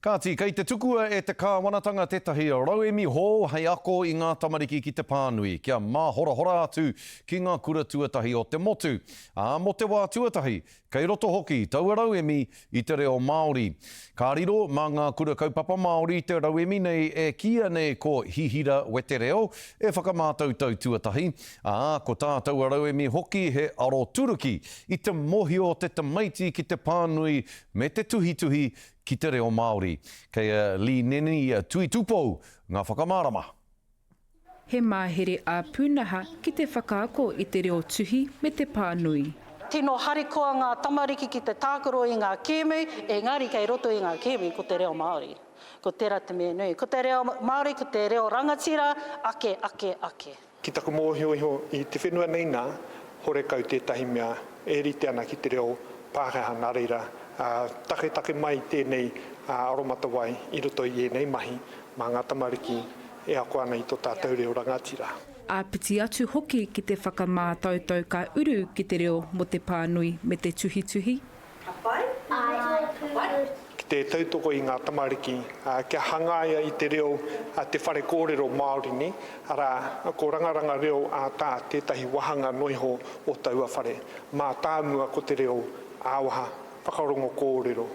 Kāti, kei te tukua e te Kāwanatanga tētahi rauemi hou hei ako i ngā tamariki ki te pānui, kia māhorahora atu ki ngā kura tuatahi o te motu, ā, mō te wā tuatahi, kei roto hoki taua rauemi i te reo Māori. Ka riro mā ngā Kura Kaupapa Māori te rauemi nei e kīia nei ko Hihira Wetereo, e whakamātautau tuatahi, ā, ko tā taua rauemi hoki he aroturuki i te mōhio o te tamaiti ki te pānui me te tuhituhi ki te reo Māori. Kei a Lee Nene i a Tui Tupou ngā whakamārama. He mahere ā-pūnaha ki te whakaako i te reo tuhi me te pānui. Tino harikoa ngā tamariki ki te tākaro i ngā kēmu, engari kei roto i ngā kēmu ko te reo Māori. Ko tērā te mea nui. Ko te reo Māori ko te reo rangatira ake, ake, ake. Ki taku mōhio iho, i te whenua nei nā, horekau tētahi mea e rite ana ki te reo Pākehā nā reira, taketake mai tēnei aromatawai i roto i ēnei mahi mā ngā tamariki e ako ana i tō tātou reo rangatira. Āpiti atu hoki ki te whakamātautau ka uru ki te reo mō te pānui me te tuhituhi. Ka pai? Ka pai? Ki te tautoko i ngā tamariki kia hangaia i te reo a te whare kōrero Māori nei, arā, ko Rangaranga Reo ā Tā tētahi wāhanga noa iho o taua whare. Mātāmua ko te reo ā-waha, whakarongo kōrero.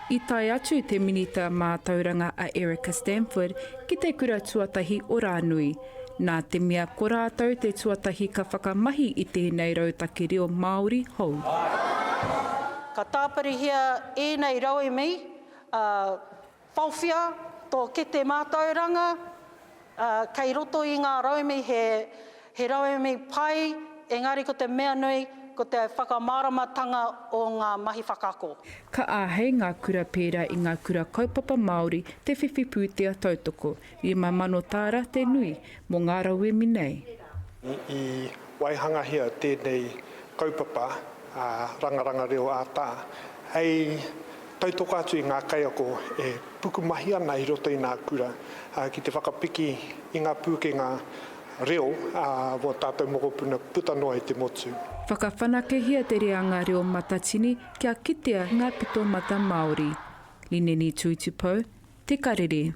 I tae atu te Minita Mātauranga a Erica Stanford ki te kura tuatahi o Rānui, nā te mea ko rātou te tuatahi ka whakamahi i tēnei rautaki reo Māori hou. Ka tāpirihia ēnei rauemi, ā, whawhia tō kete mātauranga kei roto i ngā rauemi he rauemi pai, engari ko te mea nui ko te whakamāramatanga o ngā mahi whakaako. Ka āhei ngā kura pērā i ngā kura kaupapa Māori te whiwhi pūtea tautoko, Rima mano tāra te nui mō ngā rauemi nei. I waihangahia tēnei kaupapa Rangaranga Reo ā Tā hei tautoko atu i ngā kaiako e pukumahi ana i roto i nā kura ki te whakapiki i ngā pūkenga reo mō tātou mokopuna puta noa i te motu. Whakawhanakehia te reanga reo matatini kia kitea ngā pitomata Māori. Lineni Tuitupou, Te Karere.